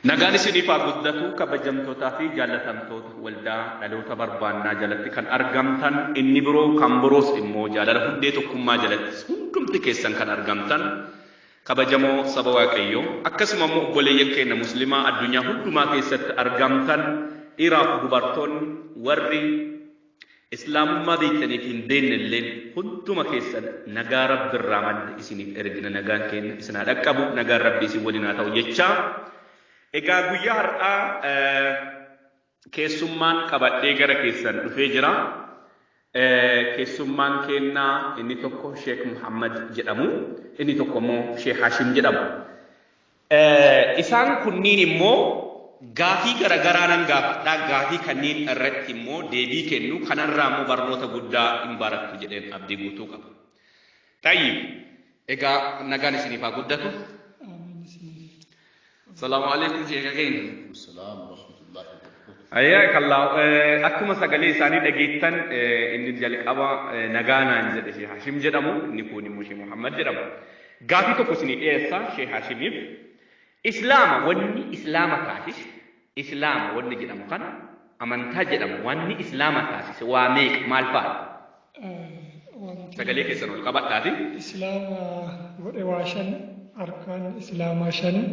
Nagaan isiniif haa guddatu kabajamtootaa fi jaallatamtoota waldaa dhaloota barbaannaa jalatti kan argamtan inni biroo kan biroos immoo jaalala hundee tokkummaa jalattis hundumti keessan kan argamtan kabajamoo saba waaqayyoo akkasuma immoo obboleeyyan keenya muslimaa addunyaa hundumaa keessatti argamtan dhiiraaf dubartoonni warri Islaamummaa beektaniif hin beekne illeen hunduma keessan nagaa Rabbi irraa madde isiniif ergina nagaan keenya isin haa dhaqqabu nagaan Rabbi isin waliin haa ta'u jechaa egaa guyyaa har'aa keessummaan qabadhee gara keessan dhufee jira keessummaan keennaa inni tokko Sheek Muhammad jedhamu inni tokko immoo Sheek Hashim jedhamu Isaan kunniin immoo gaafii garagaraa nan gaafadha, gaafii kanniin irratti immoo deebii kennu, kanarraa immoo barnoota guddaa in barattu jedheen abdii guutuu qaba. Xayyib, egaa nagaan isiniif haa guddatu. Salaamu alaikum sheeka keenya. Salaam rahmatullahi wa barakatuh. Ayyaa kallaa eh, akkuma sagalee isaanii dhageettan eh, inni jalqaba eh, nagaa naan jedhe Sheikh Hashim jedhamu inni kun immoo Sheikh Muhammad jedhama. Gaafii tokko isinii dhiyeessa Shee Haashimiif. Islaama wanni Islaama taasise, Islaama wanni jedhamu kana, amantaa jedhamu wanni Islaama taasise waa meeqa, maal faadha? Wanti Sagalee keessan ol qabadhaatii. Islaama godhe waa shani, arkaan Islaamaa shani.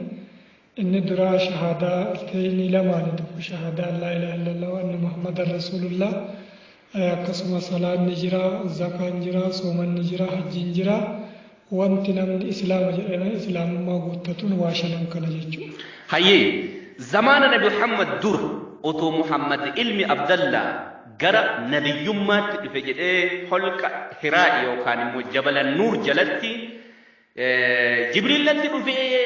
Inni duraa shahaadaa altahiinii lamaani tokko shahaadaa laa ilaaha illallah wa anna muhammadan rasuulullah akkasuma salaanni jira zakaan jira soomanni jira hajjiin jira wanti namni islaama jedhame islaamummaa guuttatuun waa shanan kana jechuudha. Hayyee zamaana nabi Muhammad dura otoo Muhammad ilmi Abdallaa gara nabiyyummaatti dhufe jedhee holqa Hiraa'i yookaan immoo jabala Nuur jalatti Jibriil natti dhufee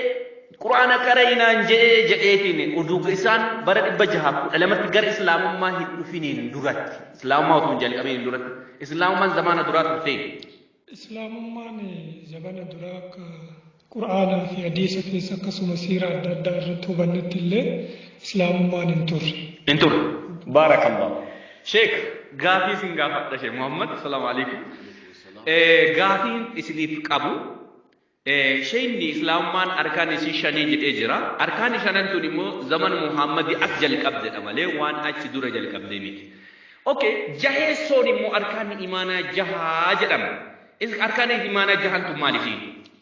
Qur'aana qara'i naan je'ee je'eetiin oduu isaan bara dhibba jahaaf kudha lamatti gara Islaamummaa hin dhufiniin duratti Islaamummaa otoo hin jalqabiniin duratti Islaamummaan zamaana duraa turte. Islaamummaan zamana duraa akka Qur'aanaa fi hadiisa keessa akkasuma siira adda addaa irratti hubannetti illee Islaamummaan hin turre. Hin turre. Baarakallah. Sheek gaafii sin gaafadha Sheek Muhammad. Salaamu alaikum. Gaafiin isiniif qabu sheeyni islaamummaan arkaan isii shanii jedhee jira. Arkaan shanan tun immoo zaman Muhammadi as jalqabdedha malee waan achi dura jalqabdee miti. Okay, jaheessoon immoo arkaan imaanaa jahaa jedhama. Arkaan imaanaa jahan tun maal isiin?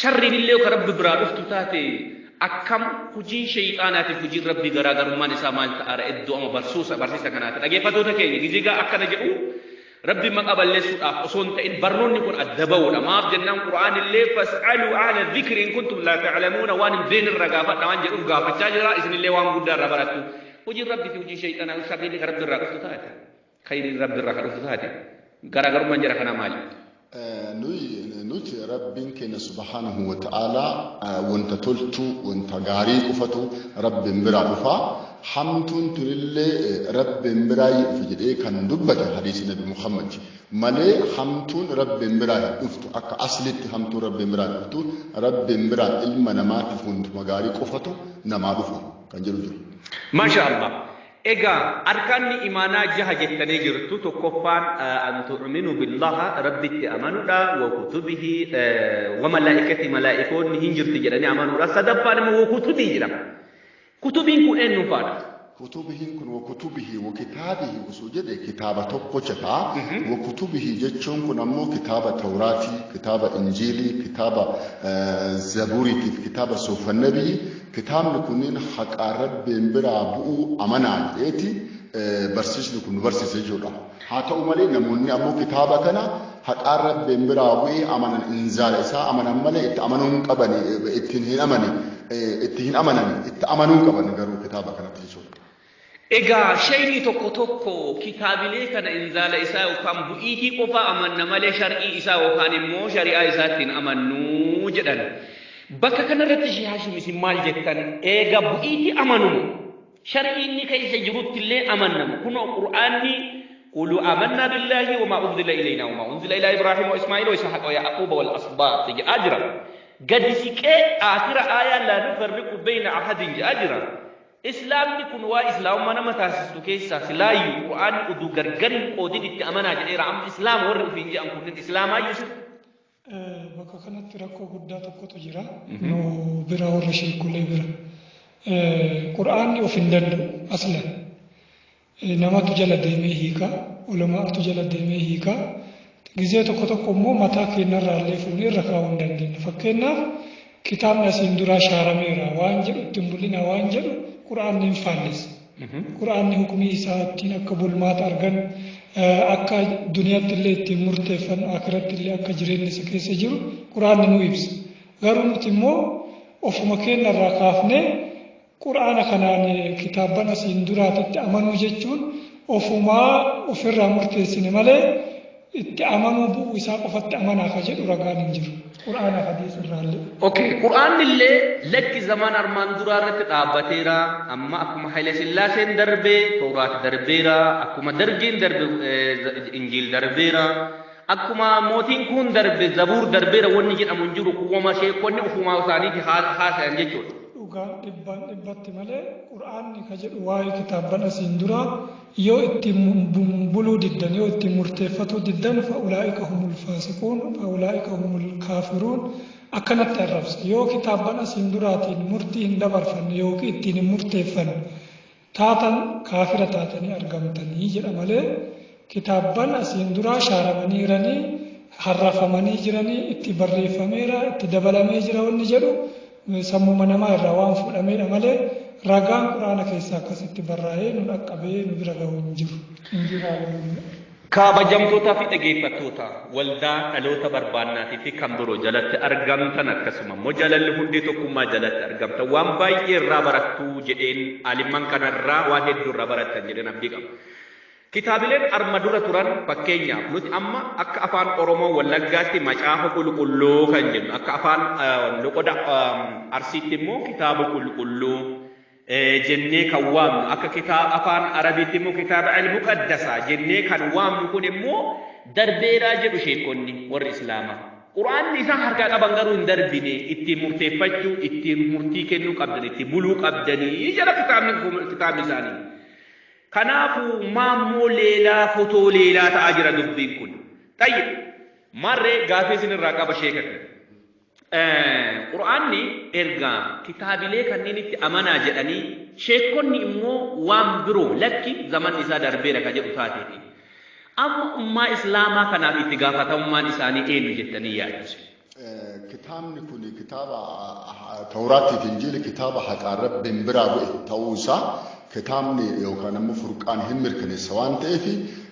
Sharriinillee yoo ka Rabbi biraa dhuftu taate akkam hujiin sheyxaanaatiif hujiin Rabbii garaa garummaan isaa maal ta'aara eddoo ama barsuusa barsiisa kanaati dhageeffatoota keenya gizigaa akkana jedhu Rabbi maqaa balleessuudhaaf osoo hin ta'in barnoonni kun adda ba'uudha maaf jennaan qura'aanillee fas'aluu ahla dhikri in kuntum laa ta'lamuuna waan hin beekne irraa gaafadha waan jedhuuf gaafachaa jira isinillee waan guddaa irraa barattu hujiin Rabbii fi hujii sheyxaanaa sharriilee ka Rabbi irraa dhuftu taate Khayriin Rabbi irraa ka dhufu taate garaagarummaan jara kanaa maali? Nuyi nuti Rabbiin keenya subhaanahu wa ta'aalaa wanta toltu wanta gaarii qofatu Rabbiin biraa dhufa. Hamtuun tunillee Rabbiin biraa hin dhufu jedhee kan dubbate hadiisii Nabi Muhammad malee hamtuun Rabbiin biraa hin dhuftu akka aslitti hamtuun Rabbiin biraa hin dhuftu Rabbiin biraa ilma namaatiif wantuma gaarii qofatu namaa dhufa kan jedhu jiru. Maashaa Allah. Egaa arkaanni imaanaa jaha jettanii jirtu tokkoffaan an tu'minu billaha rabbitti amanudha wa kutubihi wa malaa'ikati malaa'ikoonni hin jirti jedhanii amanudha sadaffaan immoo wa kutubii jedhama kutubiin kun eenyuun faadha Kutubihiin kun wa kutubihi wa kitaabihi osoo jedhe kitaaba tokkocha ta'a. Wa kutubihi jechuun kun ammoo kitaaba Tawraatii, kitaaba Injiilii, kitaaba eh, Zabuuriitiif, kitaaba Soofan Nabiyyi, Kitaabni kunniin haqaan Rabbiin biraa bu'uu amanaa jedheeti barsiisni kun nu barsiisa jechuudha. Haa ta'u malee namoonni ammoo kitaaba kana haqaan Rabbiin biraa bu'ee amanan inzaala isaa amanan malee itti amanuu hin qaban ittiin hin amane itti hin amanan itti amanuu qaban garuu kitaaba kanatti jechuudha. Egaa sheyni tokko tokko kitaabilee kana inzaala isaa yookaan bu'iitii qofaa amanna malee shar'ii isaa yookaan immoo shari'aa isaatti hin amannu jedhan. Bakka kana irratti Shee Haashim isin maal jettan? Eega bu'iitii amanuma. Shar'ii inni keessa jirutti illee amannama. Kunoo Qur'aanni Qulu amanna billaahi wamaa unzila ilayna wamaa unzila ilaa Ibraahiim wa Ismaa'iil wa Ishaaq wa Ya'quub wal asbaat jedhaa jira. Gadi siqee aakhira aayaa laa nufarriqu bayna ahadin jedhaa jira. Islaamni kun waa islaamummaa nama taasistu keessaa silaayyu qur'aanni uduu gargar hin qoodin itti amanaa jedheera amma islaama warri ufiin je'an kunnin islaamaayyu sir. Bakka kanatti rakkoo guddaa tokkotu jira nu bira warra sheekulee bira. Qur'aanni of hin danda'u aslan. namatu jala deemee hiika ulama'atu jala deemee hiika gizee tokko tokko immoo mataa keenyarraa illee fuunee irra kaa'uu hin dandeenye fakkeenyaaf kitaabni asiin duraa shaarameera waan jedhu ittiin bul'ina waan jedhu qura'aanni hin faallessa qura'aanni hukumii isaa ittiin akka bulmaata argan akka duniyaatti illee ittiin murteeffan akiratti illee akka jireenyi isa keessa jiru qura'aanni nu ibsa garuu nuti immoo ofuma keenyarraa kaafnee Qur'aana kanaan kitaabban asiin duraatitti amanuu jechuun ofumaa ofirraa murteessine malee itti amanuu bu'uu isaa qofatti amanaa ka jedhu ragaan hin jiru. Qur'aana hadiisa irraallee. Okay, Qur'aanni illee lakki zamaan armaan duraa irratti dhaabbateera. Amma akkuma Haile Sillaaseen darbee Tawraat darbeera. Akkuma Dargiin darbe eh, Injiil darbeera. Akkuma mootiin kuun darbe zabuur darbeera wanni jedhamu hin jiru kun wama sheekkonni ufumaa isaaniiti haasayan jechuudha. dhugaan dhibbaan dhibbatti malee qur'aanni ka jedhu waa'ee kitaabban asiin duraa yoo ittiin buluu diddan yoo ittiin murteeffatuu diddan fa'ulaa'ika humul faasiquun fa'ulaa'ika humul kaafiruun akkanatti arrabsa yoo kitaabban asiin duraatiin murtii hin dabarfanne yookiin ittiin hin murteeffanne taatan kaafira taatanii argamtanii jedha malee kitaabban asiin duraa shaaramaniiranii harrafamanii jiranii itti barreeffameera itti dabalamee jira wanni jedhu sammuma namaa irraa waan fuudhameedha malee ragaan quraana keessaa akkasitti barraa'ee nu dhaqqabee nu bira gahu hin jiru. Kaabajamtootaafi dhageeffattoota Waldaa Dhaloota Barbaannaatiifi kan biroo jalatti argamtan akkasuma immoo Jalalli Hundee Tokkummaa jalatti argamtan waan baay'ee irraa barattu jedheen aalimman kana irraa waan hedduu irraa barattan jedheen abdii qaba. Kitaabileen arma dura turan fakkeenyaaf nuti amma akka afaan Oromoo Wallaggaatti Macaafa Qulqulluu kan jennu akka afaan loqoda Arsiitti immoo Kitaaba Qulqulluu jennee kan waamnu akka kitaaba afaan arabiitti immoo kitaaba al-muqaddasaa jennee kan waamnu kun immoo darbeeraa jedhu sheekonni warri islaamaa quraanni isaan harkaa qaban garuu hin darbine ittiin murteeffachuu ittiin murtii kennuu qabdan itti buluu qabdanii jala kitaabni kitaabni isaanii kanaafuu maammoo leelaa fotoo leelaa ta'aa jira dubbiin kun tayyib marree gaafii isin irraa qaba sheekatti Qur'aanni ergaa kitaabilee kanniinitti amanaa jedhanii sheekkonni immoo waan biroo lakki zamanni isaa darbeera ka jedhu taateeti. Amma ummaa islaamaa kanaaf itti gaafatamummaan isaanii eenyu jettanii yaaddu? Kitaabni kun kitaaba Tawraattii fi Injiili kitaaba haqaan Rabbiin biraa bu'e ta'uu isaa kitaabni yookaan ammoo furqaan hin mirkaneessa waan ta'eef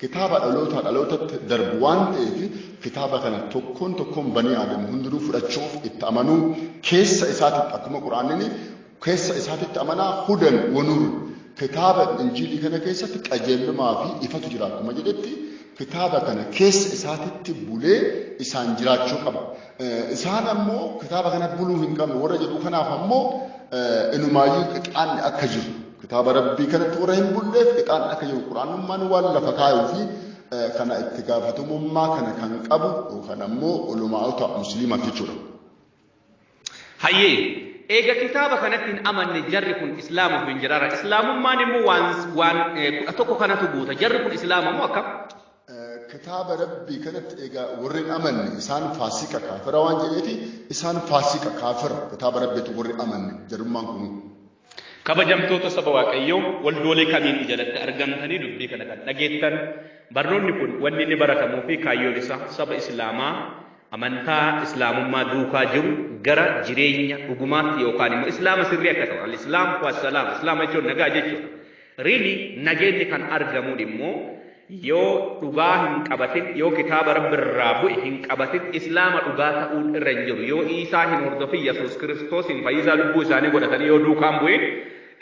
Kitaaba dhalootaa dhalootatti darbu waan ta'eef kitaaba kana tokkoon tokkoon banii aadam hundinuu fudhachuuf itti amanuu keessa isaatitti akkuma quraanni keessa isaatitti amanaa hudan wanuur kitaaba injiilii kana keessatti qajeelumaa fi ifatu jira akkuma jedhetti kitaaba kana keessa isaatitti bulee isaan jiraachuu qaba. Isaan ammoo kitaaba kana buluu hin qabnu warra jedhu kanaaf ammoo inumaayyuu qixaanni akka jiru kitaaba rabbii kanatti warra hin bulleef qixaanni akka jiru quraanummaan waan lafa kaayuu fi kana itti gaafatamummaa kana kan qabu yookaan ammoo ulamaa'ota musliima jechuudha. Hayyee eega kitaaba kanatti hin amanne jarri kun islaamuuf hin jiraara islaamummaan immoo waan waan kudha tokko kanatu guuta jarri kun islaama immoo akkam Kitaaba Rabbii kanatti egaa warri hin amanne isaan faasiqa kaafira waan jedheefi isaan faasiqa kaafira kitaaba Rabbiitu warri amanne jarummaan kunuu. Kabajamtoota saba Waaqayyoo waldoolee kamiinuu jalatti argamtanii dubbii kana kan dhageettan barnoonni kun wanni inni baratamuu fi kaayyoon isaa saba Islaamaa amantaa Islaamummaa duukaa jiru gara jireenya dhugumaatti yookaan immoo Islaama sirrii akka ta'u al-Islaam wassalaam Islaama jechuun nagaa jechuudha. Really nageenyi kan argamuun immoo yoo dhugaa hin qabatin yoo kitaaba rabbi irraa bu'e hin qabatin islaama dhugaa ta'uun irra hin jiru yoo iisaa hin hordofin yesuus kiristoosiin fayyisaa lubbuu isaanii godhatanii yoo duukaan bu'in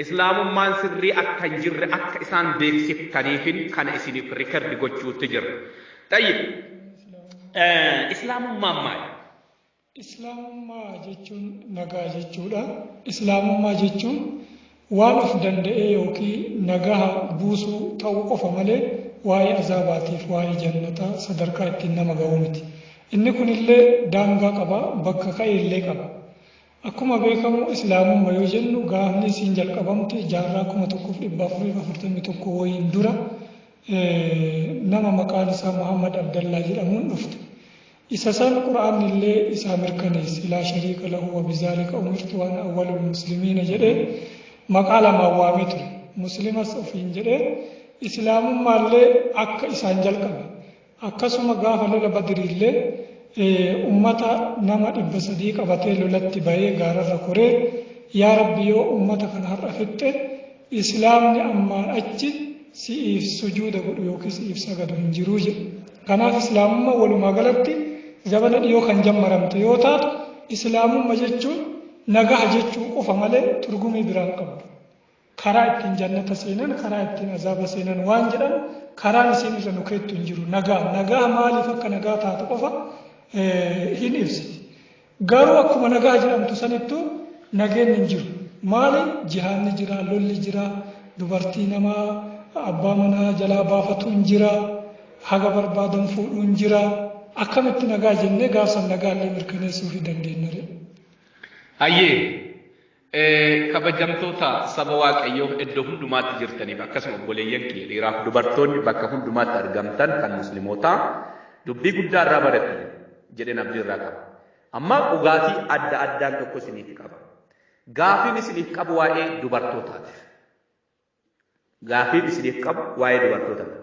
islaamummaan sirrii akka hin jirre akka isaan beeksiftaniifin kana isiniif rikardi gochuutti jira. Tayyib islaamummaan maali? Islaamummaa jechuun nagaa jechuudha. Islaamummaa jechuun waan of danda'ee yookiin nagaha buusuu ta'uu qofa malee waa'ee azaabaatiif waa'ee jannataa sadarkaa ittiin nama ga'uu miti. Inni kunillee daangaa qaba, bakka ka'e illee qaba. Akkuma beekamu islaamumma yoo jennu gaafni isiin jalqabamte jaarraa kuma tokkoof dhibba afuriif afurtamii tokko wayiin dura nama maqaan isaa Muhammad Abdallaa jedhamuun dhufte. Isa san Qur'aannillee isaa mirkaneesse, laa shariika lahu wa bizaalika umirtu wa ana awwalul muslimiina jedhee maqaa lamaan waamee ture. Muslimas ofiin jedhee, Islaamummaallee akka isaan jalqabe. Akkasuma gaafa lola Badriillee ummata nama dhibba sadii qabatee lolatti bahee gaararra koree, Yaa Rabbi yoo ummata kana har'a fixxe, Islaamni ammaan achi si'iif sujuuda godhu yookiin si'iif sagadu hin jiru jedhu. Kanaaf Islaamummaa walumaa galatti zabana dhiyoo kan jammaramte yoo taatu Islaamumma jechuun nagaha jechuu qofa malee turgumii biraan qabdu. Karaa ittiin jannata seenan karaa ittiin azaaba seenan waan jedhan karaan isiin irra nu keettu hin jiru. Nagaa nagaa maaliif akka nagaa taatu qofa hin ibsiti. Garuu akkuma nagaa jedhamtu sanittu nageenni hin jiru. Maali? Jihaadni jira, lolli jira, dubartii nama abbaa manaa jalaa baafatuun jira, haga barbaadan fuudhuun jira. Akkamitti nagaa jennee gaaf san nagaallee mirkaneessuufii dandeennaree? Hayyee. Kabajamtoota saba Waaqayyoo iddoo hundumaatti jirtaniif akkasuma obboleeyyan kiyya dhiiraaf dubartoonni bakka hundumaatti argamtan kan muslimootaa dubbii guddaa irraa barattan jedheen abdii irraa qaba. Amma dhugaatii adda addaan tokko isiniif qaba. Gaafiin isiniif qabu waa'ee dubartootaati. Gaafiin isiniif qabu waa'ee dubartoota dha.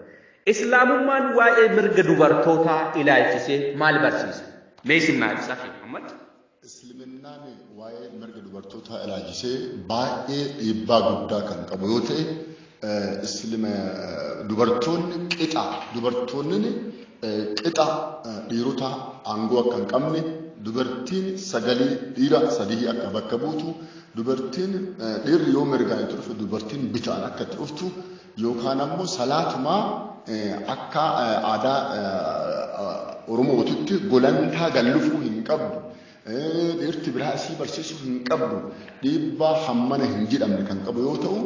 Islaamummaan waa'ee mirga dubartootaa ilaalchisee maal barsiisa? Mee isin naa ibsaa Sheikh Muhammad. Isliminaan waa'ee mirga dubartootaa ilaalchisee baay'ee dhiibbaa guddaa kan qabu yoo ta'e, Islima dubartoonni qixa dubartoonni Qixa dhiirotaa aangoo akka hin qabne, dubartiin sagalii dhiira sadihii akka bakka buutu, dubartiin dhiirri yoo mirgaan itti dhufe dubartiin bitaan akka itti dhuftu yookaan ammoo salaatumaa akka aadaa Oromootitti golantaa gallufuu hin qabdu. Dhiirti biraa isii barsiisuu hin qabdu dhiibbaa hammana hin jedhamne kan qabu yoo ta'u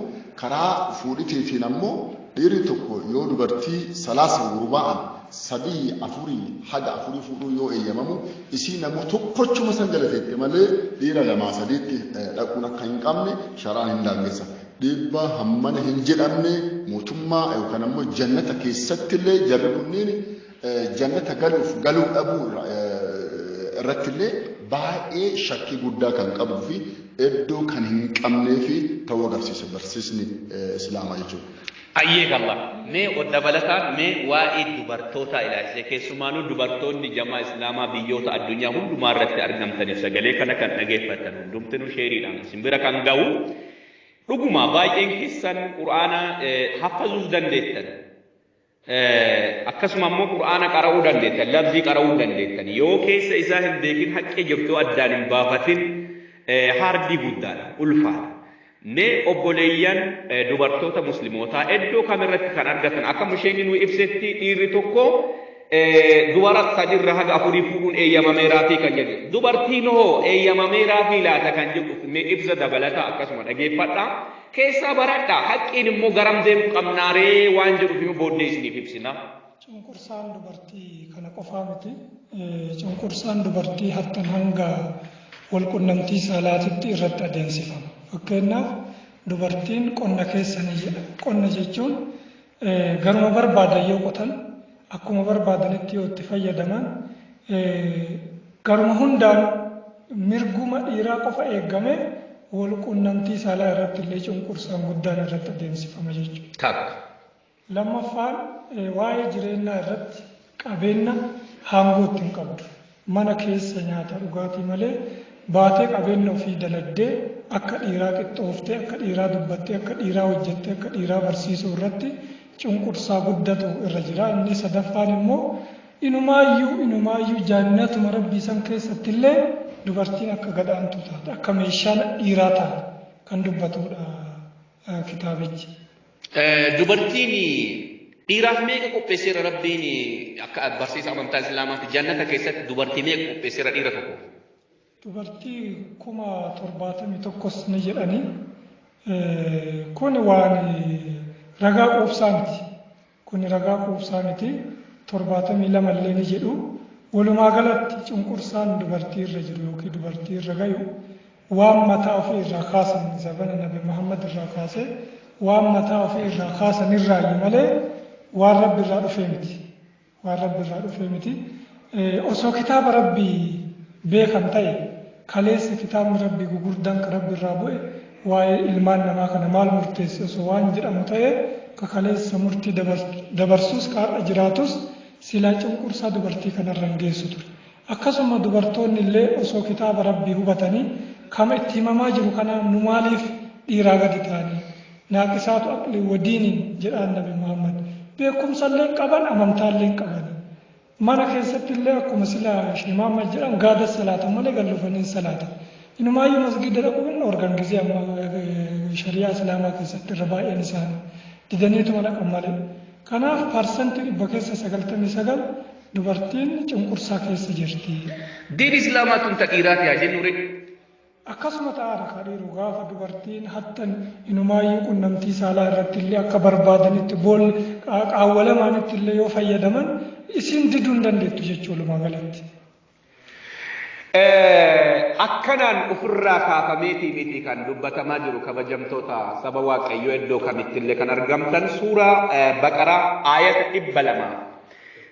karaa fuudhiteetiin ammoo dhiirri tokko yoo dubartii salaasa gurba'an sadii afurii haga afurii fuudhuu yoo eeyyamamu isii namoo tokkochuma san galateette malee dhiira lamaa sadiitti dhaquun akka hin qabne sharaan hin daangessa. Dhiibbaa hammana hin jedhamne mootummaa yookaan ammoo jannata keessatti illee jarri kunniin Jannata galuuf galuu dhabuu irrattillee baay'ee shakkii guddaa kan qabuu fi iddoo kan hin qabnee fi ta'uu agarsiisa barsiisni Islaamaa jechuudha. Ayyee kalla mee dabalataan mee waa'ee dubartootaa ilaalchisee keessumaanuu dubartoonni jamaa Islaamaa biyyoota addunyaa hundumaa irratti argamtaniif sagalee kana kan dhageeffatan hundumtinuu sheeriidhaan isin bira kan ga'u dhuguma baay'een keessan quraana haffazuuf dandeettan Akkasuma ammoo Qur'aana qara'uu dandeettan, lafzii qara'uu hin dandeettan. Yoo keessa isaa hin beekin haqqi jirtu addaan hin baafatin haardii guddaadha, ulfaadha. Mee obboleeyyan dubartoota muslimootaa iddoo kam irratti kan argatan akka musheenni nuu ibsetti dhiirri tokko dubara sadirra haga afurii fuudhuun eeyyamameeraatii kan jedhu. Dubartiin hoo eeyyamameeraafii laata kan jedhuuf mee ibsa dabalataa akkasuma dhageeffadha. keessaa baradhaa. Haqqiin immoo garam deemuu qabnaa ree waan jedhuuf immoo booddee isiniif ibsina. Cunqursaan dubartii kana qofaa miti. Cunqursaan dubartii hattan hanga walqunnamtii saalaatitti irratti adeemsifama. Fakkeenyaaf dubartiin qonna keessanii jedha. Qonna jechuun Garuma barbaadan yoo qotan, akkuma barbaadanitti yoo itti fayyadaman, garuma hundaan mirguma dhiiraa qofa eeggamee walqunnamtii saalaa irratti illee cunqursaan guddaan irratti adeemsifama jechuudha. Takka. Lammaffaan waa'ee jireenyaa irratti qabeenna haangoo itti hin qabdu. Mana keessa nyaata dhugaatii malee baatee qabeenna ofii dalagdee akka dhiiraa qixxooftee, akka dhiiraa dubbattee, akka dhiiraa hojjattee, akka dhiiraa barsiisuu irratti cunqursaa guddatu irra jira. Inni sadaffaan immoo inumaayyuu inumaayyuu jaannatuma rabbii san keessatti illee dubartiin akka gadhaantuu taate, akka meeshaa dhiiraa taate kan dubbatudha kitaabichi. Dubartiin dhiiraaf meeqa qopheesseera rabbiin akka barsiisa amantaa islaamaatti jannata keessatti dubartii meeqa qopheesseera dhiira tokko. Dubartii kuma torbaatamii tokkos ni jedhanii kun waan ragaa quubsaa miti. Kuni ragaa quubsaa miti. 72 illee ni jedhu. Walumaa galatti cunqursaan dubartii irra jiru yookiin dubartii irra gayu waan mataa ofii irraa kaasan zabana Nabi Muhammad irraa kaasee waan mataa ofii irraa kaasan irraayyi malee waan Rabbi irraa dhufee miti. Waan Rabbi irraa dhufee miti. Osoo kitaaba Rabbi beekan ta'e kaleessa kitaabni Rabbi gugurdaan ka Rabbi irraa bu'e waa'ee ilmaan namaa kana maal murteesse osoo waan jedhamu ta'ee ka kaleessa murtii dabarsuus ka har'a jiraatus silaa cunqursaa dubartii kanarra hin geessu ture. Akkasuma dubartoonni illee osoo kitaaba Rabbi hubatanii kama itti himamaa jiru kana nu maaliif dhiiraa gadi taane naaqisaatu aqli wadiiniin jedhaan nabi Muhammad beekumsa illee qaban amantaa illee qaban. Mana keessatti illee akkuma sila Sheikh Muhammad jedhan gaada salaatan malee gad dhufanii hin salaatan. Inumaayyuu masgiida dhaquun hin dhoorgan gisee amma shari'aa islaamaa keessatti irra baay'een isaanii didaniituma dhaqan malee. Kanaaf parsantii dhibba keessa sagaltamii sagal dubartiin cunqursaa keessa jirti. Diin islaamaa tun ta dhiiraati haa jennu ree. Akkasuma ta'a dha kaa dhiiru gaafa dubartiin hattan inumaayyuu qunnamtii saalaa irratti illee akka barbaadanitti bool qaawwa lamaanitti illee yoo fayyadaman isin diduu hin dandeettu jechuu walumaa galatti. Akkanaan ofirraa kaafameetii miti kan dubbatamaa jiru kabajamtoota saba waaqayyoo iddoo kamittillee kan argamtan suuraa baqaraa aayata dhibba lamaa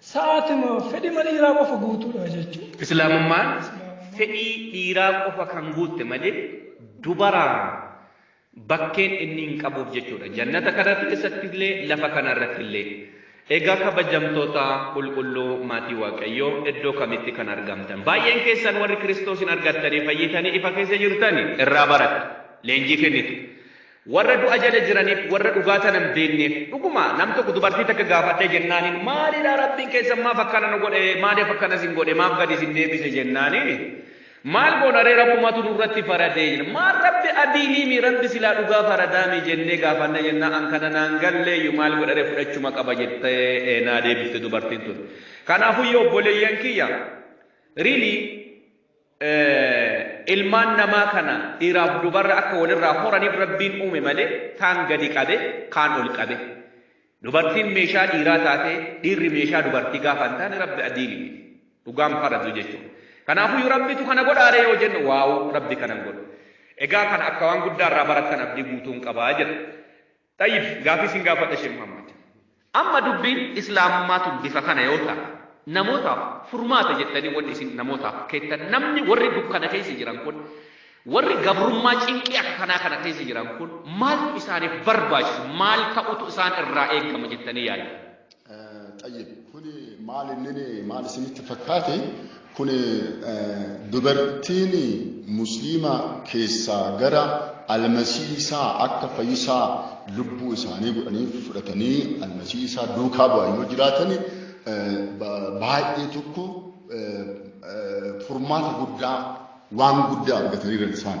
Sa'aatima fedhima dhiiraa qofa guutuudha jechuudha. Islaamummaan fedhii dhiiraa qofa kan guutte malee dubaraa bakkeen inni hin qabuuf jechuudha. Jannata kana keessatti illee lafa kana irratti illee. Egaa kabajamtoota qulqulluu maatii Waaqayyoo iddoo kamitti kan argamtan? Baay'een keessan warri Kiristoosiin argattanii fayyitanii ifa keessa jirtani irraa baradha. Leenjii kennitu. Warra du'a jala jiraniif warra dhugaa tana hin beekneef. Dhuguma nam tokko dubartii takka gaafadhee jennaaniin maalidha Rabbiin keessan maaf akkana nu godhe maaliif akkana isin godhe maaf gadi isin deebise jennaaniin maal goona ree Rabbumatu nurratti faradee jenna maal Rabbi adiiliimi Rabbi silaa dhugaa faradaami jennee gaafanna jennaa an kana naan galleeyyu maal godha ree fudhachuma qaba jettee naa deebifte dubartiin tun. Kanaafuu yoo obboleeyyan kiyya really Ilmaan namaa kana dhiiraaf dubarra akka walirraa horaniif Rabbiin uume malee kaan gadi qabe kaan ol qabe. Dubartiin meeshaa dhiiraa taatee dhiirri meeshaa dubartii gaafa hin taane Rabbi adiili miti. Dhugaan faradu jechuudha. Kanaafuu Rabbitu kana godhaaree yoo jennu waawu Rabbi kana hin godhu. Egaa kana akka waan guddaa irraa barattan abdii guutuun qabaa jira. Xayyib gaafii sin gaafadha Sheikh Muhammad. Amma dubbiin Islaamummaa tun bifa kana yoo ta, namootaaf furmaata jettanii wanni isin namootaaf keettan namni warri dukkana keessa jiran kun warri gabrummaa cinqii akka kanaa kana keessa jiran kun maaltu isaaniif barbaachisu maal ta'utu isaan irraa eegama jettanii yaaddu? Xayyib kuni maal inni maal isinitti fakkaate kuni dubartiin musliima keessaa gara almasiisaa akka fayyisaa lubbuu isaanii godhanii fudhatanii almasiisaa duukaa bu'an yoo jiraatan baay'ee tokko furmaata guddaa waan guddaa argataniiran isaan.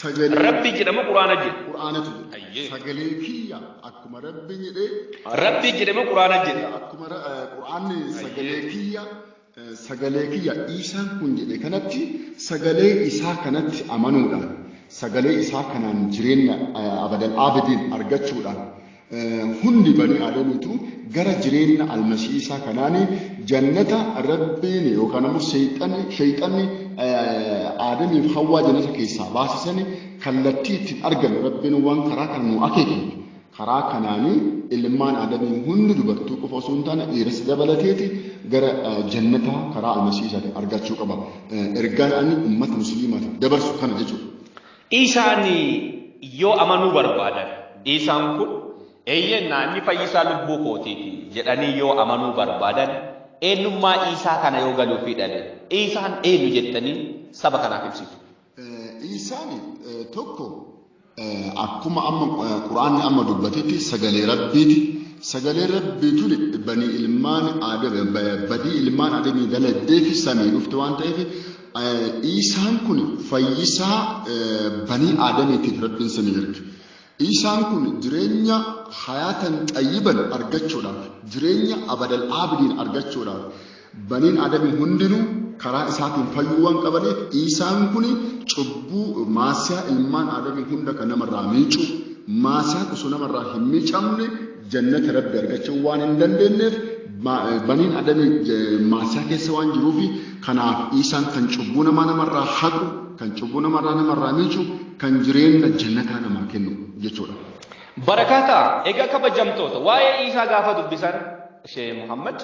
sagalee Rabbi jedhama Quraana jedhe. qur'aanatu jedhe Ayyee. sagalee kiyya akkuma rabbi jedhe Rabbi jedhama Quraana jedhe. akkuma ra- eh, qur'aanni sagalee kiyya eh, sagalee kiyya isaan kun jedhe kanatti sagalee isaa kanatti amanuudhaan sagalee isaa kanaan jireenya eh, abadan abidin argachuudhaan Hundi banii Aadamiitu gara jireenna almasiisaa kanaani jannata Rabbiini yookaan ammoo seexanni sheyxanni Aadamiif Hawwaa jannata keessaa baase sani kallattii ittiin argannu Rabbiin waan karaa kana nuu akeekeef karaa kanaani ilmaan Aadamii hundi dubartuu qofa osoo hin taane dhiiras dabalateeti gara jannata karaa almasiisaatiin argachuu qaba. Ergaan ani ummata musliimaatiif dabarsu kana jechuudha. Isaan yoo amanuu barbaadan, isaan kun, Eeyyeen naa, inni fayyisaa lubbuu kootiiti jedhanii yoo amanuu barbaadan, eenyummaa Iisaa kana yoo galuu fi dhale, Iisaan eenyu jettanii saba kanaaf ibsitu? Iisaan tokko akkuma amma Qur'aanni amma dubbatetti sagalee Rabbiiti. Sagalee Rabbii tuni banii ilmaan Aadam, badii ilmaan Aadamii dalagdee fi samii dhufte waan ta'eef Iisaan kun fayyisaa banii aadamiitiif rabbiin sanii erge. Iisaan kun jireenya hayaatan xayyiban argachuudhaaf, jireenya abadal aabidiin argachuudhaaf baniin aadamii hundinuu karaa isaatiin fayyuu waan qabaniif Iisaan kun cubbuu maasiyaa ilmaan aadamii hunda kan namarraa miicuu maasiyaan osoo namarraa hin miicamne Jannata Rabbi argachuu waan hin dandeenyeef baniin adamii maasiyaa keessa waan jiruufi kanaaf Iisaan kan cubbuu namaa namarraa haqu, kan cubbuu namarraa namarraa miicu, kan jireenya jannataa namaa kennu jechuudha. Barakaataa, egaa kabajamtoota waa'ee Iisaa gaafa dubbisan Sheeh Muhammad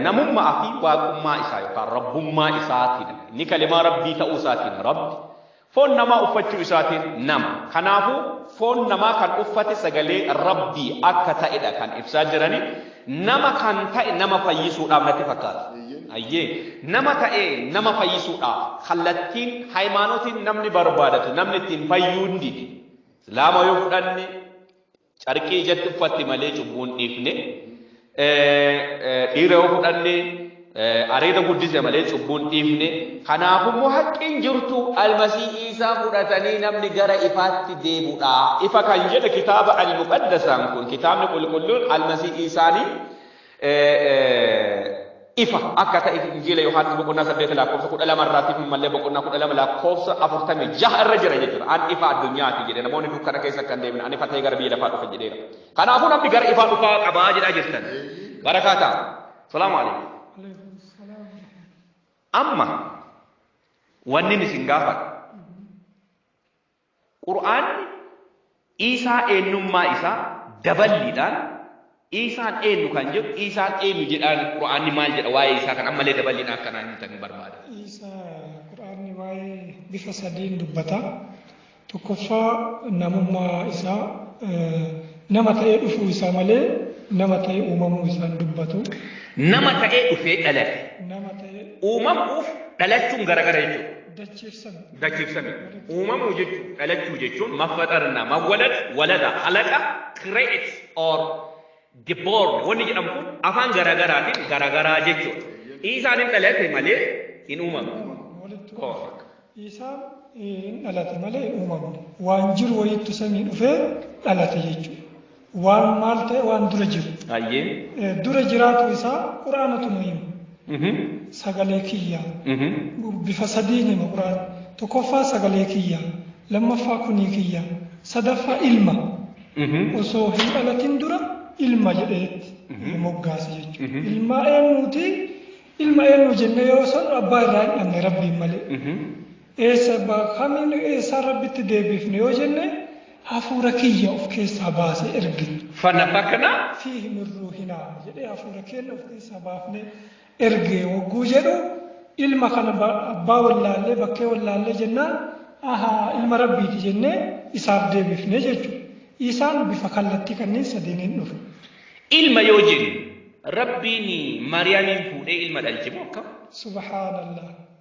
namummaa fi waaqummaa isaa yookaan rabbummaa isaatiin inni kalimaa rabbii ta'uu isaatiin rabbi Foon namaa uffachuu isaatiin nama. Kanaafu, foon namaa kan uffate sagalee Rabbii akka ta'edha kan ibsaa jirani. Nama kan ta'e nama fayyisuudhaaf natti fakkaata. Ayyee, nama ta'ee nama fayyisuudhaaf kallattiin, haymaanotiin namni barbaadatu, namni ittiin fayyuu hin dide. Islaama yoo fudhanne, Carqii ijatti uffatti malee cubbuu hin dhiifne. Dhiira yoo fudhanne areeda guddise malee cubbuu hin dhiifne. Kanaaf immoo haqqiin jirtu almasii isaa fudhatanii namni gara ifaatti deemudha. Ifa kan jedhe kitaaba al-muqaddasaan kun kitaabni qulqulluun almasii isaanii ifa akka ta'e Injiila Yohaannis boqonnaa 8 lakkoofsa 12 irraatti fi mallee boqonnaa 12 lakkoofsa 46 irra jira jechuudha. An ifa addunyaati jedhe namoonni dukkana keessa akka hin deemne an ifa ta'ee gara biyya lafaa dhufe jedheera. Kanaafuu namni gara ifaa dhufaa qabaa jedhaa jirtan. Barakaa ta'a. Salaamu alaikum. Amma wanni isin gaafadha. Qur'aanni Iisaa eennummaa isaa daballiidhaan Iisaan eennu kan jedhu Iisaan eennu jedhaan Qur'aanni maal jedha waa'ee isaa kan ammallee daballiidhaan akka naa himtan barbaada. Iisaa Qur'aanni waa'ee bifa sadiin dubbata. Tokkoffaa namummaa isaa nama ta'ee dhufuu isaa malee nama ta'ee uumamuu isaa hin dubbatu. Nama ta'ee dhufee dhalate. Nama ta'ee Uumamuuf dhalachuun garagara jechuudha. dachiifsame. dachiifsame. Uumamuu jechuun dhalachuu jechuun maffaxarna, mawwalad, walada, halaqa, create or the born wanni jedhamu kun afaan garaagaraatiin garaagaraa jechuudha. Iisaan hin dhalate malee hin uumamne. Uumamne walitti Koo. dhufe. Isaan eh, hin dhalate malee hin uumamne. Waan jiru wayiitti samii dhufee dhalate jechuudha. Waan maal ta'e waan dura jiru. Ayyee. Eh, Dura jiraatu isaa quraanatu nu hima. Mhm. Sagalee kiyya. Mhm. Bifa sadiin hima quraan. Tokkoffaa sagalee kiyya. Lammaffaa kunii kiyya. Sadaffaa ilma. Mhm. Osoo hin dhalatin dura ilma jedheetti Mhm. moggaase jechuudha. Mhm. Ilma eenyuuti? Ilma eenyu jennee yoo san abbaa irraa hin dhabne rabbiin malee. Mhm. Eessa abba kamiin eessaa rabbitti deebiifne yoo jenne hafuura kiyya of keessaa baase ergine. Fanafakna. Fiihi min ruuhinaa jedhee hafuura keenya of keessaa baafnee erge wogguu jedhu ilma kana abbaa wallaallee bakkee wallaallee jennaan ahaa ilma rabbiiti jennee isaaf deebifne jechuudha. Isaan bifa kallattii kanneen sadiiniin dhufe. Ilma yoo jennu rabbiin maariyaamiin fuudhee ilma dhalche moo akkam? Subhaanallah.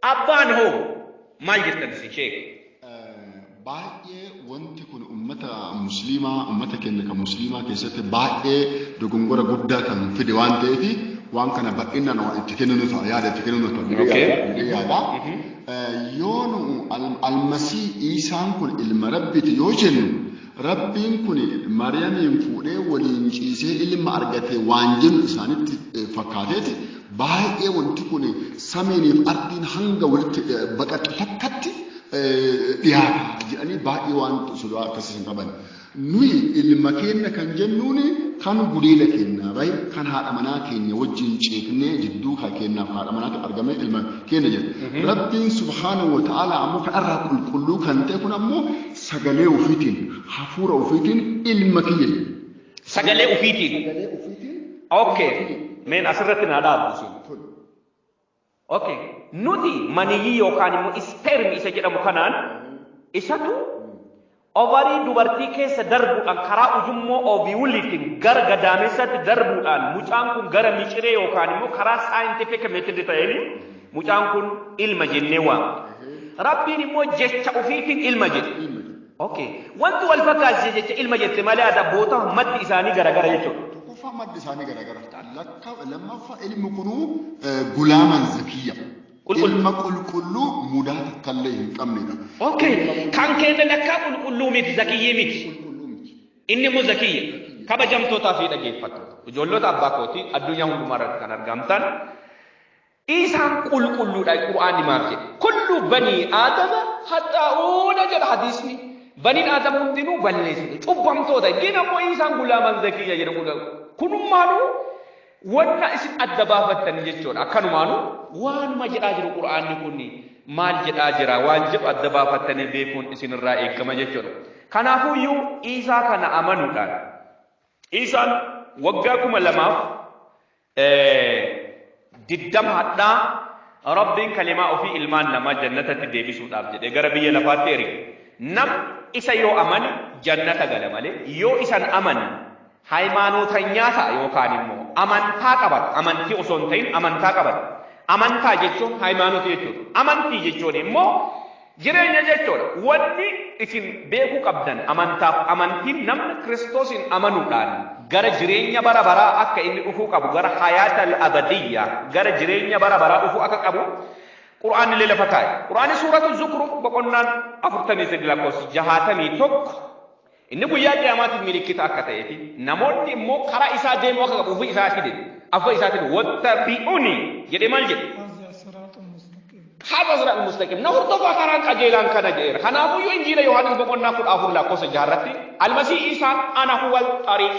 Abbaan hoo maal jettan isin sheeka? baay'ee wanti kun ummata musliimaa ummata keenya kan musliimaa keessatti baay'ee dogongora guddaa kan fide waan ta'eef waan kana bal'inaan waan itti kenninu ta'a yaada itti kenninu ta'a jedhee Okay. yaada- jedhee yaada. Eh, Yoo nu al- almasii Iisaan kun ilma rabbiiti yoo jennu Rabbiin kun Maryamiin fuudhee waliin ciisee ilma argate waan jennu isaanitti fakkaateeti baay'ee wanti kun samiiniif ardiin hanga walitti baqaqxe takkatti dhiyaata jedhanii baay'ee waan sodaa akkasii hin qaban. Nuyi ilma keenya kan jennuun kan gudeeda keenya bahe kan haadha manaa keenya wajjin ceeknee jidduu kan keenyaaf haadha manaatti argame ilma keenya jedha. Rabbiin subhaanahu wa ta'aala ammoo kan irraa qulqulluu kan ta'e kun ammoo Sagalee ufiitiin, hafuura ufiitiin ilma kiyya jedhe. Sagalee ufiitiin. Sagalee ufiitiin. Okay. Meen asirratti naa dhaabu isin. Tole. Okay. Nuti maniyyii yookaan immoo ispeermi isa jedhamu kanaan isatu ovarii dubartii keessa darbuudhaan karaa ujummoo oviwuliitiin gara gadaamessaatti darbuudhaan mucaan kun gara miciree yookaan immoo karaa saayintifika meetodii ta'een Mucaan kun ilma jennee waamna. Rabbiin immoo jecha ufiitiin ilma jedhe. Ok. Wanti wal fakkaasise jecha ilma jette malee as abboota maddi isaanii garagara jechuudha. Tokkoffaa maddi isaanii garagara. Lakka lammaffaa ilmi kunuu gulaaman zakiyya. Qulqulluu. Ilma qulqulluu mudaa takkallee hin qabnedha. Ok. Kan keenya lakkaa qulqulluu miti zakiyyii miti. Qulqulluu miti. Inni immoo zakiyya. Kabajamtootaa fi dhageeffattoota. Ijoollota abbaa kootii addunyaa hundumaa irratti kan argamtan Isaan qulqulluudha Qur'aanni maaf jedhe? Kullu banii aadama haxxaa'uuna jedha hadiisni. Baniin aadama hundinuu balleessite cubbamtoota gin ammoo isaan gulaaman zakiyya jedha kudha. Kunummaanuu wanna isin adda baafattanii jechuudha. Akkanumaanuu waanuma jedhaa jiru Qur'aanni kun maal jedhaa jira waan jedhu adda baafattanii beekuun isinirraa eegama jechuudha. Kanaafuu iyyuu Iisaa kana amanuudhaan Iisaan waggaa kuma lamaaf 20 hadhaa Rabbiin kalimaa ofii ilmaan namaa jannatatti deebisuudhaaf jedhee gara biyya lafaatti erge. Nam isa yoo amane jannata gala malee yoo isan amane haymaanootanyaa ta'a yookaan immoo amantaa qabata. Amantii osoo hin ta'in amantaa qabata. Amantaa jechuun haymaanotii jechuudha. Amantii jechuun immoo Jireenya jechuun wanni isin beekuu qabdan amantaaf amantiin namni Kiristoosiin amanuudhaan gara jireenya bara baraa akka inni dhufuu qabu gara hayaata al-abadiyya gara jireenya bara baraa dhufuu akka qabu Qur'aannillee lafa kaa'e. Qur'aanni suuratu Zukruf boqonnaan 43 lakkoofsi 61 Inni guyyaa qiyaamaatiif milikkita akka ta'ee fi namoonni immoo karaa isaa deemuu akka qabu ofii isaatiin afwa isaatiin wattabi'uni jedhee maal jedhe? Haadha siraat mustaqim na hordofaa karaan qajeelaan kana jedheera. Kanaafuu yoo injiila Yohaannis boqonnaa kudha afur lakkoofsa jaha irratti almasii isaan ana huwal xariiq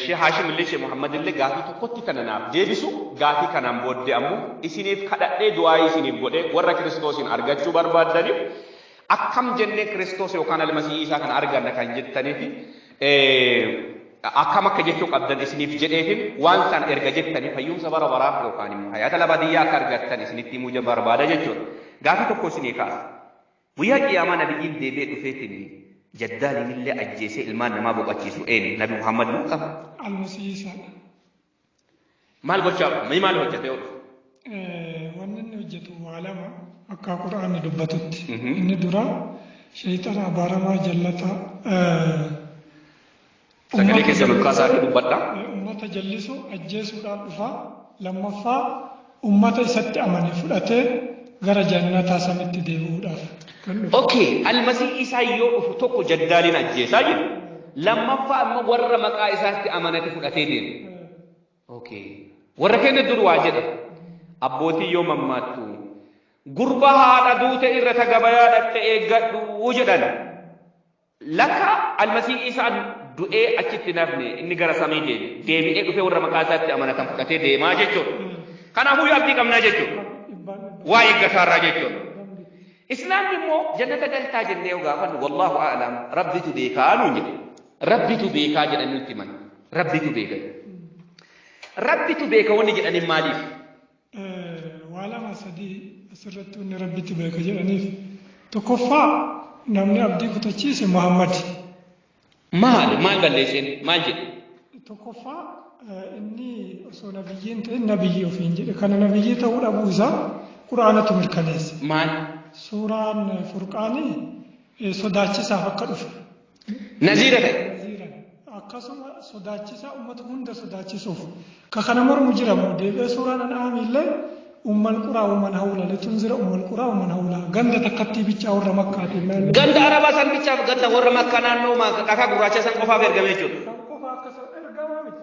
Shee Haashimillee Shee Muhammadillee gaafii tokkotti tana naaf deebisu gaafii kanaan booddee ammoo isiniif kadhadhee du'aayii isiniif godhee warra Kiristoosiin argachuu barbaaddaniif akkam jennee Kiristoos yookaan Almasii Iisaa kana arganna kan jettaniif akkam akka jechuu qabdan isiniif jedheefin waan san erga jettanii fayyumsa bara baraa yookaan immoo hayaata labadiyyaa akka argattan isinitti himuu barbaada jechuudha. Gaafii tokko isinii kaasa. Guyyaa Qiyaamaa Nabiyyiin deebi'ee dhufeetiin Jaddaaliinillee ajjeesee ilmaan namaa boqachiisu eenyu? Nabi Muhammad moo kam? Almasihii Isaadha. Maal gochaa dhufa? Mee maal hojjatee oolu? Eh, Wanni inni hojjetu waa lama akka Qur'aanni dubbatutti. Mhm. Inni duraa sheeyxana abaaramaa jallataa eh, Sagalee keessan ol kaasaa akka dubbadha. Ummata jallisu ajjeesuudhaan dhufa. Lammaffaa ummata isatti amane fudhatee gara jannataa samitti deebi'uudhaaf kan dhufu. Okay, almasii isaa yoo dhufu tokko jaddaaliin ajjeesaa jedhu. Lammaffaa amma warra maqaa isaatti amanate fudhatee deema. Okay. Warra keenya dur waa jedha. Abbootii yoo mammaattu gurba haadha duute irra tagabayaa dhaqxe eeggadhu jedhan. Lakka Almasiih Iisaan du'ee achitti hin hafne, inni gara samii deeme. Deebi'ee dhufee warra maqaa isaatti amanatan fudhatee deemaa jechuudha. Kanaafuu yoo abdii qabnaa jechuudha. Waa eeggasaarraa jechuudha. Islaamni immoo jannata galtaa jennee yoo gaafannu wallaahu a'lam rabbitu beekaa nuun jedhe. Rabbitu beekaa jedhanii nutti himan. Rabbitu beeka. Rabbitu beeka wanni jedhaniin maaliif? Waa lama sadii asirratti inni rabbitti beeka jedhaniif tokkoffaa namni abdii kutachiise Muhammad. Maali maal balleesseen maal jedhe? Tokkoffaa inni osoo nabiyyiin ta'e nabiyyii ofiin jedhe kana nabiyyii ta'uu dhabuu isaa quraanatu mirkaneesse. Maal? Suuraan furqaanii sodaachisaaf akka dhufe. naziira ta'e. naziiran akkasuma sodaachisaa ummata hunda sodaachisuuf ka kana mormu jira moo deebi'ee suuraan an'aami illee ummal quraa umman hawla litunzira ummal quraa umman hawla ganda takkattii bichaa warra makkaatiin naannoo Ganda arabaa san bichaaf ganda warra makkaa naannoo ma- dhakaa gurraacha san qofaaf ergame jechuudha. kan qofa akkasuma ergamaa miti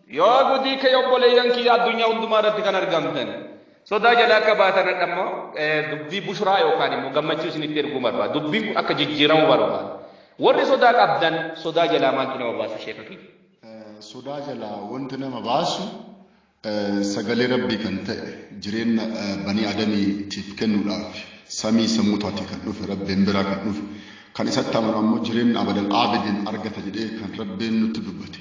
Yaa gudii kee obboleeyyan kiyya addunyaa hundumaa irratti kan argamtan sodaa jala akka baatan hadha immoo dubbii bushuraa yookaan immoo gammachuu isinitti erguu barbaada. Dubbiin kun akka jijjiiramu barbaada. Warri sodaa qabdan sodaa jalaa maaltu nama baasu sheeka kiyya? Sodaa jalaa wanti nama baasu sagalee rabbii kan ta'e jireenya banii adamiitiif kennuudhaaf samii sammuu taatee kan dhufe rabbiin biraa kan dhufe kan isatti amanu ammoo jireenya abadan aabidin argata jedhee kan rabbiin nutti dubbate.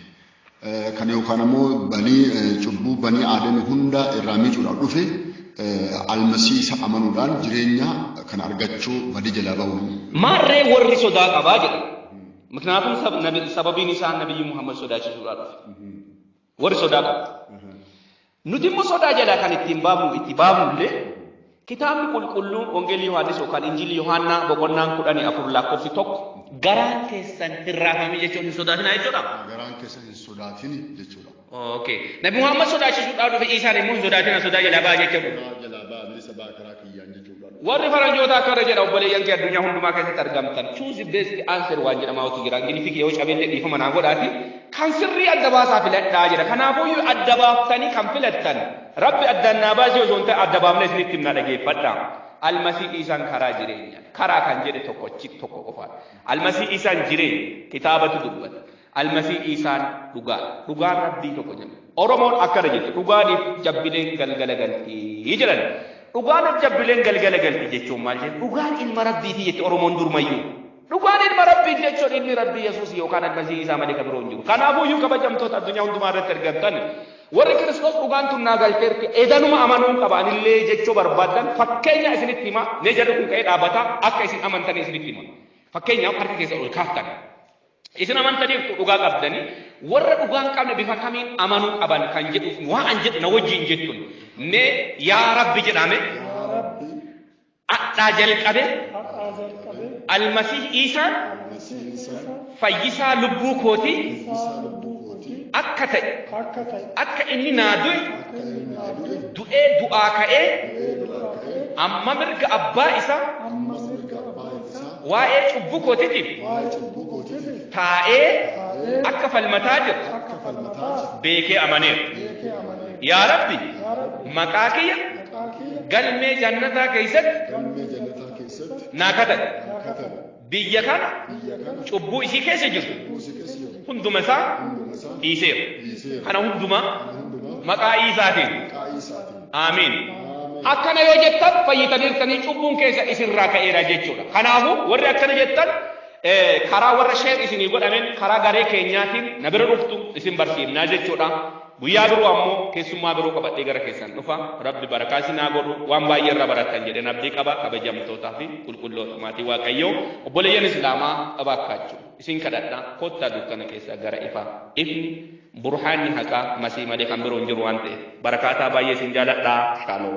Kana yookaan ammoo banii cubbuu banii aadami hunda irraa miicuudhaaf dhufe almasii isa amanuudhaan jireenya kana argachuu badii jalaa ba'uu. Maarree warri sodaa qabaa jedha. Miknaatum sababiin isaa nabiyyi Muhammad sodaachisuudhaa dhufe. Warri sodaa qabu. Nuti immoo sodaa jalaa kan ittiin baafnu itti baafnu illee kitaabni qulqulluun Wangeelli Yohaannis yookaan Injilli Yohaannaa boqonnaan kudhanii afur lakkoofsi tokko garaan keessan hin raafamii jechuun hin sodaatinaa jechuudha. Garaan keessan hin sodaatini jechuudha. Okay. Nabi Muhammad sodaachisuudhaan dhufe Iisaan immoo hin sodaatinaa sodaa jalaa ba'a jechuudha. Sodaa jalaa ba'a bilisa ba'a karaa kiyyaan jechuudha. Warri faranjootaa akkana jedha obboleeyyan kee addunyaa hundumaa keessatti argamtan choose the best answer waan jedhamaatu jira ingiliffii kee yoo cabeellee dhiifama naa godhaati kan sirrii adda baasaa filadhaa jedha kanaafuyyuu adda baaftanii kan filattan rabbi addaan naa baasii osoo hin ta'e adda baafnee isinitti himna dhageeffadha almasii isaan karaa jireenya karaa kan jedhe tokkochi tokko qofaadha almasii isaan jireenya kitaabatu dubbata Almasii Iisaan dhugaadha. Dhugaan Rabbii tokko jedha. Oromoon akkana jette dhugaaniif jabbileen galgala galti jedhan. Dhugaaniif jabbileen galgala galti jechuun maal jedhu? Dhugaan ilma Rabbiiti jette Oromoon durmayyuu. Dhugaan ilma Rabbiiti jechuun ilmi Rabbii Yesuus yookaan Almasii Iisaa malee kan biroo hin jiru. Kanaafuyyuu kabajamtoota addunyaa hundumaa irratti argamtan warri Kiristoos dhugaan tun naa galteerti edanuma amanuun qaba anillee jechuu barbaadan fakkeenya isinitti hima mee jarri kun ka'ee dhaabata akka isin amantan isinitti hima. Fakkeenyaaf harka keessa ol kaaftan. Isin amanta jirtu dhugaa qabdani warra dhugaa hin qabne bifa kamiin amanuu qaban kan jedhuuf waa an jedhu na wajjin jettun mee yaa rabbi jedhame yaa rabbi adhaa jalqabe hadhaa jalqabee almasih iisaan almasii isaa fayyisaa lubbuu kootii fayyisaa lubbuu kootii akka ta'e akka ta'e akka inni naa du'e akka inni naa du'e du'ee du'aa ka'ee du'ee du'aa ka'ee amma mirga abbaa isaa amma waa'ee cubbuu kootiitiif waa'ee cubbuu kootiitiif taa'ee taa'ee akka falmataa jiru akka falmataa jiru beekee amaneera. beekee amanee Yaa Rabbi, yaa Rabbi maqaa kiyya maqaa kiyya galmee jannataa keessatti galmee jannataa keessatti naa kadhadhu. naa katabe Biyya kana biyya kana cubbuu isii keessa jiru buusii keessa jiru hunduma isaa hunduma isaa dhiiseera. dhiiseera Kana hundumaa kana hundumaa maqaa Iisaatiin maqaa Iisaatiin Aamiin. Akkana yoo jettan fayyitaniirtanii cubbuun keessa isinirraa ka'eera jechuudha. Kanaafuu warri akkana jettan karaa warra sheer isinii godhameen karaa garee keenyaatiin na bira dhuftu isin barsiifnaa jechuudha. Guyyaa biroo ammoo keessummaa biroo qabadhee gara keessan dhufa. Rabbi barakaa isin haa godhu. Waan baay'ee irra barattan jedheen abdii qaba. Kabajamtootaa fi qulqulloota maatii Waaqayyoo obboleeyyan Islaamaa abaakkaachuu isin kadhadha kottaa dukkana keessaa gara ifaa ifni Burhaanni haqaa masii malee kan biroo hin jiru waan ta'eef. Barakaataa baay'ee isin jaaladha. Shalom.